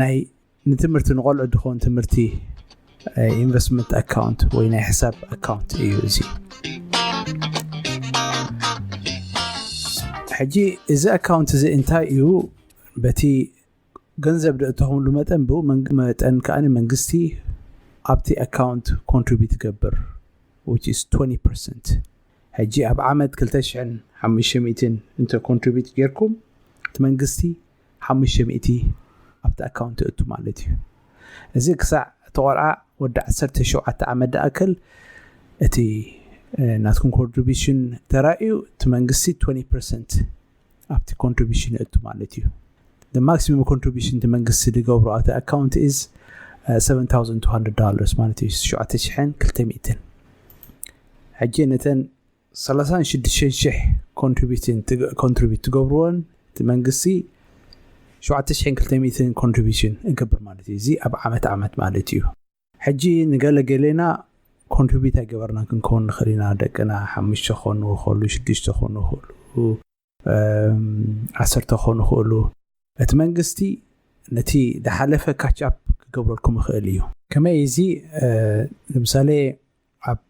ናይ ንትምህርቲ ንቆልዑ ድኾን ትምህርቲ ኢንቨስትመንት ኣካውንት ወይ ናይ ሕሳብ ኣካውንት እዩ እዚ ሕጂ እዚ ኣካውንት እዚ እንታይ እዩ በቲ ገንዘብ ደእተኸምሉ መጠን ብኡ መጠን ከዓ መንግስቲ ኣብቲ ኣካውንት ኮንትሪቢት ይገብር 20 ሕጂ ኣብ ዓመት 2500 እንተ ኮንትሪቢት ጌርኩም እቲ መንግስቲ ሓሙሽተ ሚእቲ ኣብቲ ኣካውንት የእቱ ማለት እዩ። እዚ ክሳዕ እቲ ቆልዓ ወዲ ዓሰርተ ሸውዓተ ዓመት ድኣክል እቲ ናትኩም ኮንትሪቢሽን ተራእዩ እቲ መንግስቲ ትወኒ ፐርሰንት ኣብቲ ኮንትሪቢሽን የእቱ ማለት እዩ። The maximum contribution እቲ መንግስቲ ዝገብሮ ኣብቲ ኣካውንት is uh, seven thousand two hundred dollars ማለት እዩ ትሽዓተ ሽሕን ክልተ ሚእትን ሕጂ ነተን ሰላሳን ሽዱሽተን ሽሕ ኮንትሪቢቲን ትግ ኮንትሪቢት ትገብርዎን እቲ መንግስቲ ሸውዓተ ሽሕን ክልተ ሚእትን ኮንትሪቢሽን እገብር ማለት እዩ እዚ ኣብ ዓመት ዓመት ማለት እዩ ሕጂ ንገለ ገሌና ኮንትሪቢት ኣይገበርናን ክንከውን ንኽእል ኢና ደቅና ሓሙሽተ ክኾኑ ይኽእሉ ሽዱሽተ ክኾኑ ይኽእሉ ዓሰርተ ክኾኑ ይኽእሉ እቲ መንግስቲ ነቲ ዝሓለፈ ካች ኣፕ ክገብረልኩም ይኽእል እዩ ከመይ እዚ ንምሳሌ ኣብ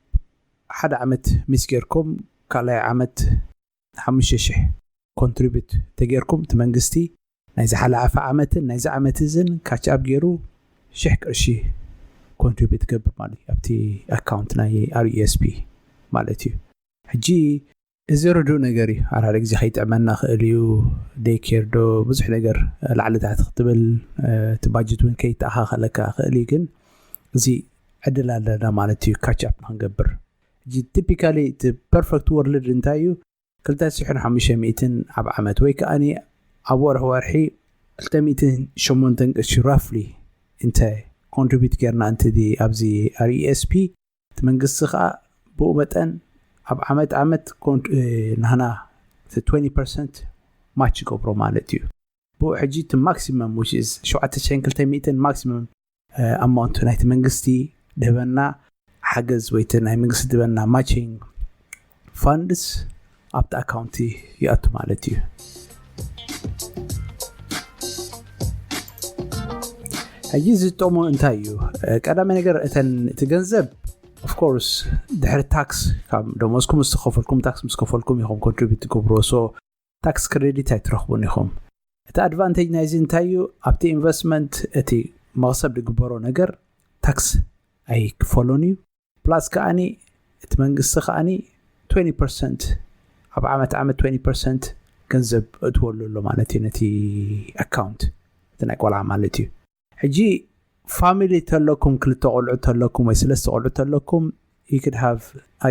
ሓደ ዓመት ሚስ ጌርኩም ካልኣይ ዓመት ሓሙሽተ ሽሕ ኮንትሪቢዩት ተጌርኩም እቲ መንግስቲ ናይ ዝሓለኣፈ ዓመትን ናይዚ ዓመት እዝን ካች ኣብ ገይሩ ሽሕ ቅርሺ ኮንትሪቢዩት ገብር ማለት እዩ ኣብቲ ኣካውንት ናይ ኣርዩኤስፒ ማለት እዩ ሕጂ እዚ ርዱእ ነገር እዩ ሓዳር ግዜ ከይጥዕመና ክእል እዩ ደይ ኬር ዶ ብዙሕ ነገር ላዕሊ ታሕቲ ክትብል እቲ ባጀት እውን ከይተኣኻኸለካ ክእል እዩ ግን እዚ ዕድል ኣለና ማለት እዩ ካቻፕ ንክንገብር ሕጂ ቲፒካሊ እቲ ፐርፌክት ወርልድ እንታይ እዩ ክልተ ሽሕን ሓሙሽተ ሚእትን ኣብ ዓመት ወይ ከዓ ኣብ ወርሒ ወርሒ ክልተ ሚእትን ሸሞንተን ቅርሺ ራፍሊ እንተ ኮንትሪቢዩት ጌርና እንትዚ ኣብዚ ኣር ኢኤስፒ እቲ መንግስቲ ከኣ ብኡ መጠን ኣብ ዓመት ዓመት ናህና እቲ 20 ፐርሰንት ማች ይገብሮ ማለት እዩ ብኡ ሕጂ እቲ ማክሲመም which is 7200 ማክሲመም ኣማውንት ናይቲ መንግስቲ ድህበና ሓገዝ ወይ እቲ ናይ መንግስቲ ድህበና ማቺንግ ፋንድስ ኣብቲ ኣካውንቲ ይኣቱ ማለት እዩ ሕጂ ዝጠሙ እንታይ እዩ ቀዳሚ ነገር እተን እቲ ገንዘብ ኦፍኮርስ ድሕሪ ታክስ ካብ ደሞዝኩም ምስ ከፈልኩም ታክስ ምስ ከፈልኩም ኢኹም ኮንትሪቢት ትገብሮ ሶ ታክስ ክሬዲት ኣይትረኽቡን ኢኹም። እቲ ኣድቫንቴጅ ናይዚ እንታይ እዩ? ኣብቲ ኢንቨስትመንት እቲ መኽሰብ ዝግበሮ ነገር ታክስ ኣይክፈሎን እዩ። ፕላስ ከኣኒ እቲ መንግስቲ ከኣኒ 20 ፐርሰንት ኣብ ዓመት ዓመት 20 ፐርሰንት ገንዘብ እእትወሉ ኣሎ ማለት እዩ ነቲ ኣካውንት እቲ ናይ ቆልዓ ማለት እዩ። ሕጂ ፋሚሊ ተለኩም ክልተ ቆልዑ ተለኩም ወይ ስለስተ ቆልዑ ተለኩም you could have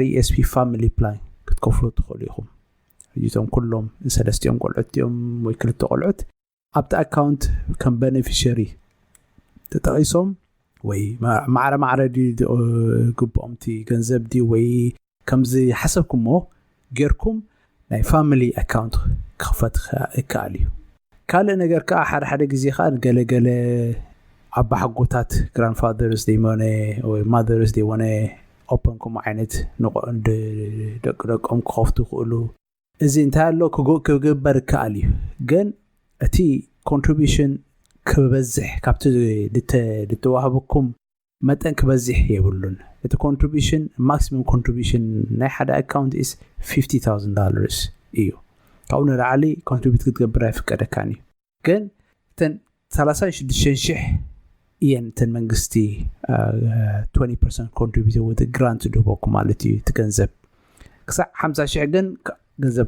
RESP family plan ክትከፍሉ ትኽእሉ ኢኹም ሕጂ እቶም ኩሎም ሰለስቲኦም ቆልዑት እዮም ወይ ክልተ ቆልዑት ኣብቲ ኣካውንት ከም በነፊሸሪ ተጠቒሶም ወይ ማዕረ ማዕረ ግብኦም እቲ ገንዘብ ድዩ ወይ ከምዝሓሰብኩሞ ጌርኩም ናይ ፋሚሊ ኣካውንት ክኽፈት ይከኣል እዩ። ካልእ ነገር ከኣ ሓደ ሓደ ግዜ ከኣ ንገለ ገለ ኣባሓጎታት ግራንድ ፋዘርስ ዘይሞነ ወይ ማዘርስ ዘይሞነ ኦፐን ከምኡ ዓይነት ደቂ ደቆም ክኸፍቱ ይኽእሉ። እዚ እንታይ ኣሎ ክግበር ይከኣል እዩ ግን እቲ ኮንትሪቢሽን ክበዝሕ ካብቲ ዝተዋህበኩም መጠን ክበዚሕ የብሉን እቲ ኮንትሪቡሽን ማክሲመም ኮንትሪቡሽን ናይ ሓደ ኣካውንት ኢስ ፊፍቲ ታውዝን ዳለርስ እዩ ካብኡ ንላዕሊ ኮንትሪቡት ክትገብር ኣይፍቀደካን እዩ ግን እተን ሰላሳን ሽዱሽተን ሽሕ እየን እተን መንግስቲ ትወኒ ፐርሰንት ኮንትሪቡት ወይ ግራንት ድህበኩም ማለት እዩ እቲ ገንዘብ ክሳዕ ሓምሳ ሽሕ ግን ገንዘብ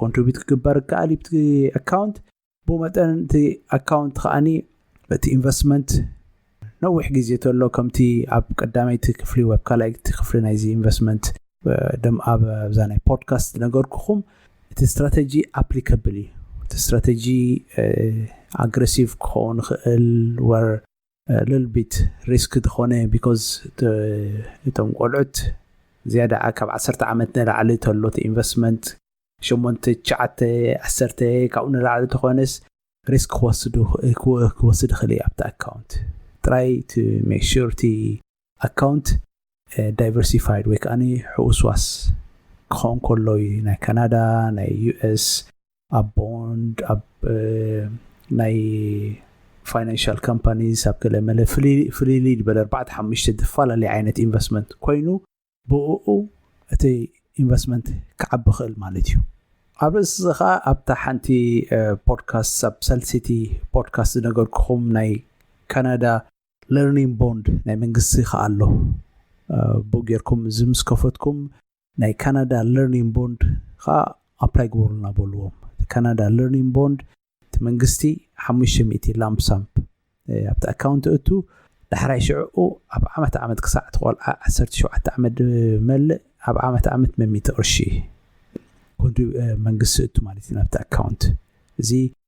ኮንትሪቡት ክግበር ይከኣል እዩ ኣካውንት ብኡ መጠን እቲ ኣካውንት ከኣኒ እቲ ኢንቨስትመንት ነዊሕ ግዜ ተሎ ከምቲ ኣብ ቀዳመይቲ ክፍሊ ወይ ኣብ ካልኣይቲ ክፍሊ ናይዚ ኢንቨስትመንት ደም ኣብ ኣብዛ ናይ ፖድካስት ነገርኩኹም እቲ ስትራተጂ ኣፕሊካብል እዩ እቲ ስትራተጂ ኣግሬሲቭ ክኸውን ይኽእል ወር ልል ቢት ሪስክ ተኾነ ቢኮዝ እቶም ቆልዑት ዝያዳ ካብ ዓሰርተ ዓመት ንላዕሊ ተሎ እቲ ኢንቨስትመንት ሸሞንተ ትሽዓተ ዓሰርተ ካብኡ ንላዕሊ ተኾነስ ሪስክ ክወስድ ክወስድ ይኽእል እዩ ኣብቲ ኣካውንት ጥራይ ቱ ሜክ ሹር እቲ ኣካውንት ዳይቨርሲፋይድ ወይ ከኣ ሕውስዋስ ክኸውን ከሎ እዩ ናይ ካናዳ ናይ ዩኤስ ኣብ ቦንድ ኣብ ናይ ፋይናንሻል ካምፓኒስ ኣብ ገለ መለ ፍልልይ ዝበለ ኣርባዕተ ሓሙሽተ ዝፈላለየ ዓይነት ኢንቨስትመንት ኮይኑ ብእኡ እቲ ኢንቨስትመንት ክዓቢ ክእል ማለት እዩ ኣብ ርእሲ እዚ ከዓ ኣብታ ሓንቲ ፖድካስት ኣብ ሰልሲቲ ፖድካስት ዝነገርኩኹም ናይ ካናዳ ለርኒንግ ቦንድ ናይ መንግስቲ ከኣ ኣሎ ቡክ ጌርኩም እዚ ምስ ከፈትኩም ናይ ካናዳ ለርኒንግ ቦንድ ከኣ ኣፕላይ ግበሩልና በልዎም እቲ ካናዳ ለርኒንግ ቦንድ እቲ መንግስቲ ሓሙሽተ ሚእቲ ላምፕሳምፕ ኣብቲ ኣካውንት እቱ ዳሕራይ ሽዕኡ ኣብ ዓመት ዓመት ክሳዕ እቲ ቆልዓ ዓሰርተ ሸውዓተ ዓመት ድመልእ ኣብ ዓመት ዓመት መሚእቲ ቅርሺ ኮንትሪ መንግስቲ እቱ ማለት እዩ ናብቲ ኣካውንት እዚ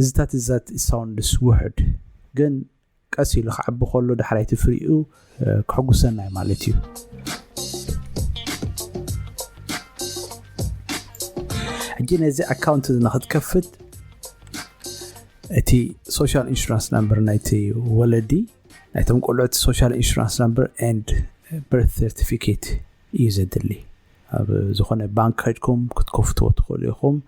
እዚ ታትዛት ኢት ሳውንድስ ውሑድ ግን ቀስ ኢሉ ክዓቢ ከሎ ዳሕራይ እቲ ፍሪኡ ክሕጉሰና እዩ ማለት እዩ። ሕጂ ነዚ ኣካውንት እዚ ንክትከፍት እቲ ሶሻል ኢንሹራንስ ናምበር ናይቲ ወለዲ ናይቶም ቆልዑት ሶሻል ኢንሹራንስ ናምበር ኤንድ በርት ሰርቲፊኬት እዩ ዘድሊ ኣብ ዝኾነ ባንክ ከድኩም ክትከፍትዎ ትኽእሉ ኢኹም።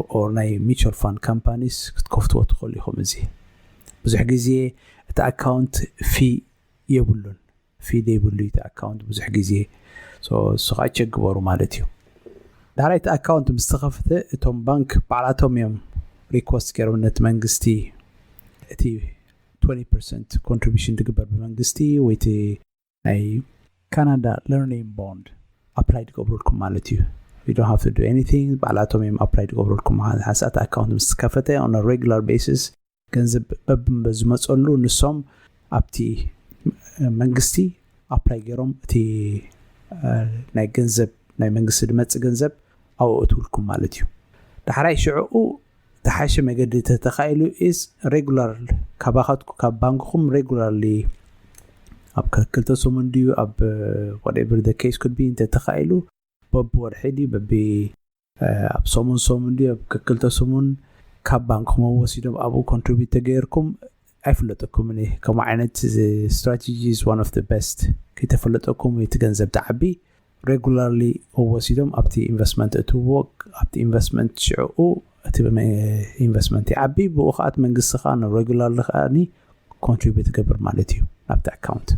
or ናይ mutual fund companies ክትከፍትዎ ትኽእሉ ኢኹም እዚ ብዙሕ ግዜ እቲ ኣካውንት ፊ የብሉን ፊ ዘይብሉ እቲ ኣካውንት ብዙሕ ግዜ እሱ ከዓ ቸክ ግበሩ ማለት እዩ ዳሕራይ እቲ ኣካውንት ምስ ተኸፍተ እቶም ባንክ ባዕላቶም እዮም ሪኮስት ገይሮም ነቲ መንግስቲ እቲ 20 ፐርሰንት ኮንትሪቢሽን ዝግበር ብመንግስቲ ወይ እቲ ናይ ካናዳ ለርኒንግ ቦንድ ኣፕላይ ዝገብረልኩም ማለት እዩ you don't have to do anything ባዕላቶም እዮም ኣፕላይ ዝገብረልኩም ሓንሳእቲ ኣካውንት ምስ ከፈተ on a regular basis ገንዘብ በብምበ ዝመፀሉ ንሶም ኣብቲ መንግስቲ ኣፕላይ ገይሮም እቲ ናይ ገንዘብ ናይ መንግስቲ ዝመፅእ ገንዘብ ኣብኡ እትውልኩም ማለት እዩ ዳሕራይ ሽዕኡ ዝተሓሸ መገዲ ተተኻኢሉ ኢስ ሬጉላር ካባኻትኩ ካብ ባንክኹም ሬጉላርሊ ኣብ ክልተ ሰሙን ድዩ ኣብ ወደብር ደ ኬስ ኩድ ቢ እንተተኻኢሉ በቢ ወርሒ ድዩ በቢ ኣብ ሰሙን ሰሙን ድዩ ኣብ ክልተ ሰሙን ካብ ባንክኹም ወሲዶም ኣብኡ ኮንትሪቢዩት ተገይርኩም ኣይፍለጠኩምን እየ ከምኡ ዓይነት ስትራቴጂ ኢዝ ዋን ኦፍ ደ ቤስት ከይተፈለጠኩም እቲ ገንዘብ ተዓቢ ሬጉላርሊ ወሲዶም ኣብቲ ኢንቨስትመንት እእትውዎ ኣብቲ ኢንቨስትመንት ሽዕኡ እቲ ኢንቨስትመንት ይዓቢ ብኡ ከዓ እቲ መንግስቲ ከዓ ንሬጉላርሊ ከዓ ኮንትሪቢዩት ይገብር ማለት እዩ ናብቲ ኣካውንት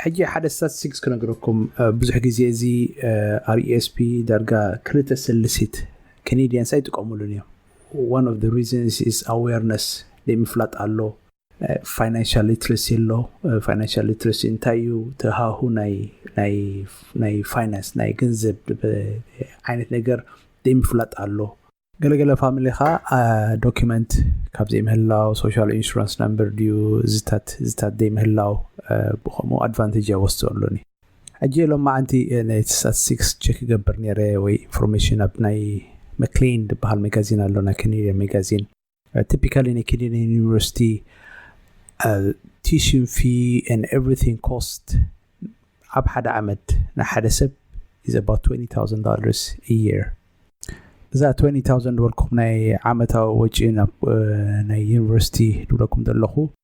ሕጂ ሓደ ስታቲስቲክስ ክነግረኩም ብዙሕ ግዜ እዚ ኣርኤስፒ ዳርጋ ክልተ ስልሲት ከኔድያንስ ኣይጥቀሙሉን እዮም One of the reasons is awareness ዘይምፍላጥ ኣሎ ፋይናንሻል ሊትረሲ ኣሎ ፋይናንሻል ሊትረሲ እንታይ እዩ ተሃሁ ናይ ፋይናንስ ናይ ገንዘብ ዓይነት ነገር ዘይምፍላጥ ኣሎ ገለገለ ፋሚሊ ከዓ ዶኪመንት ካብ ዘይምህላው ሶሻል ኢንሹራንስ ናምበር ድዩ ዝታት ዝታት ዘይምህላው ብከምኡ ኣድቫንቴጅ ኣይወስዶ ኣሎኒ ሕጂ ሎማዓንቲ ናይ ስታትስቲክስ ቸክ ይገብር ነይረ ወይ ኢንፎርሜሽን ኣብ ናይ መክሌን ዝበሃል መጋዚን ኣሎ ናይ ከኔድያን መጋዚን ቲፒካሊ ናይ ከኔድያን ዩኒቨርሲቲ ቲሽን ፊ ን ኤቭሪቲንግ ኮስት ኣብ ሓደ ዓመት ናይ ሓደ ሰብ ኢዝ ኣባት 20000 ዶላርስ ኢየር እዛ 20000 ዝበልኩም ናይ ዓመታዊ ወጪ ናብ ናይ ዩኒቨርሲቲ ድብለኩም ዘለኹ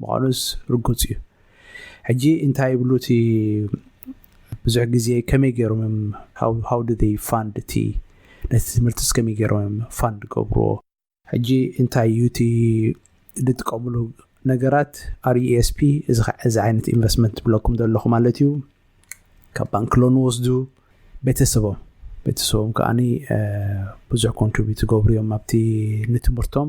ምዃኑስ ርጉጽ እዩ። ሕጂ እንታይ ይብሉ እቲ ብዙሕ ግዜ ከመይ ገይሮም እዮም ሃው ዱ ዘይ ፋንድ እቲ ነቲ ትምህርትስ ከመይ ገይሮም እዮም ፋንድ ገብርዎ? ሕጂ እንታይ እዩ እቲ ዝጥቀምሉ ነገራት RESP እዚ ከ- እዚ ዓይነት ኢንቨስትመንት ትብለኩም ዘለኹ ማለት እዩ ካብ ባንክ ሎን ወስዱ ቤተሰቦም ቤተሰቦም ከዓኒ እ፣ ብዙሕ ኮንትሪቢዩት ዝገብሩ እዮም ኣብቲ ንትምህርቶም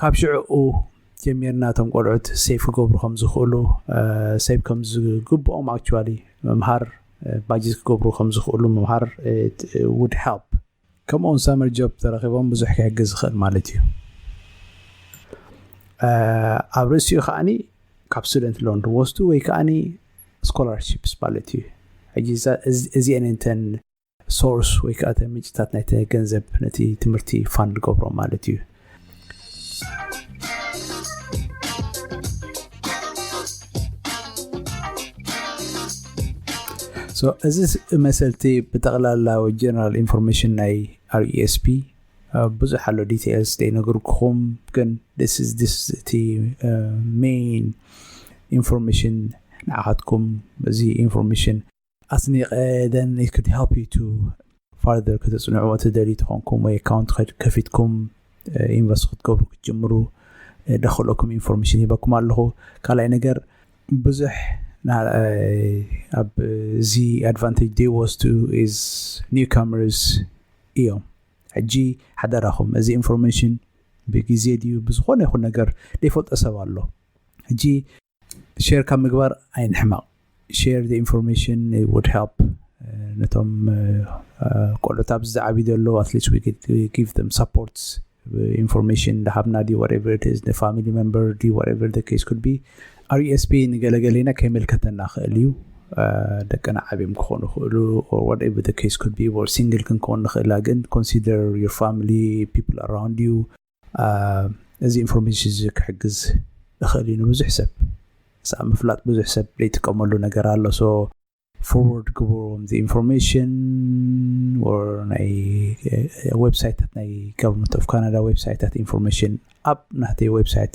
ካብ ሽዕኡ ጀሚርና እቶም ቆልዑት ሴፍ ክገብሩ ከም ዝኽእሉ ሴቭ ከም ዝግብኦም ኣክቹዋሊ ምምሃር ባጀት ክገብሩ ከም ዝኽእሉ ምምሃር ውድ ሄልፕ ከምኡ ውን ሳመር ጆብ ተረኺቦም ብዙሕ ክሕግዝ ዝኽእል ማለት እዩ ኣብ ርእሲኡ ከዓኒ ካብ ስቱደንት ሎን ዝወስዱ ወይ ከዓኒ ስኮላርሽፕስ ማለት እዩ ሕጂ እዚአን እንተን ሶርስ ወይ ከዓ እቲ ምንጭታት ናይ ገንዘብ ነቲ ትምህርቲ ፋን ዝገብሮ ማለት እዩ እዚ መሰልቲ ብጠቕላላ ጀነራል ኢንፎርሜሽን ናይ ርስፒ ብዙሕ ኣሎ ዲቴልስ ዘይነገርኩኹም ግን እቲ ሜን ኢንፎርሜሽን ንዓኻትኩም እዚ ኢንፎርሜሽን ኣስኒቀ then it could help you to further ከተፅንዑዎ ትደልዩ ተኾንኩም ወይ ኣካውንት ከፊትኩም ኢንቨስት ክትገብሩ ክትጅምሩ ደኽእለኩም ኢንፎርሜሽን ሂበኩም ኣለኹ ካልኣይ ነገር ብዙሕ ኣብ እዚ ኣድቫንቴጅ ዘይወስዱ ኢዝ ኒው ካመርስ እዮም ሕጂ ሓደራኹም እዚ ኢንፎርሜሽን ብግዜ ድዩ ብዝኾነ ይኹን ነገር ዘይፈልጦ ሰብ ኣሎ ሕጂ ሼር ካብ ምግባር ኣይንሕመቕ ሼር ዘ ኢንፎርሜሽን ውድ ሄልፕ ነቶም ቆልዑት ኣብዚ ዝዓብዩ ዘለዉ ኣትሊስት ጊቭ ም ሰፖርት ኢንፎርሜሽን እንዳሃብና ዲ ወቨር ስ ንፋሚሊ መንበር ዲ ወቨር ኬስ ኩድ ቢ ኣስፒ ንገለገሌና ከይመልከተና ክእል እዩ ደቅና ዓብዮም ክኾኑ ክእሉ ወቨር ኬስ ኩድ ቢ ሲንግል ክንከውን ንኽእላ ግን ኮንሲደር ዮር ፋሚሊ ፒፕል ኣራውንድ ዩ እዚ ኢንፎርሜሽን እዚ ክሕግዝ እኽእል እዩ ንብዙሕ ሰብ ምስ ኣብ ምፍላጥ ብዙሕ ሰብ ዘይጥቀመሉ ነገር ኣሎ ሶ ፎርወርድ ግበሩዎም እዚ ኢንፎርሜሽን ናይ ዌብሳይታት ናይ ጋቨርንመንት ኦፍ ካናዳ ዌብሳይታት ኢንፎርሜሽን ኣብ ናተይ ዌብሳይት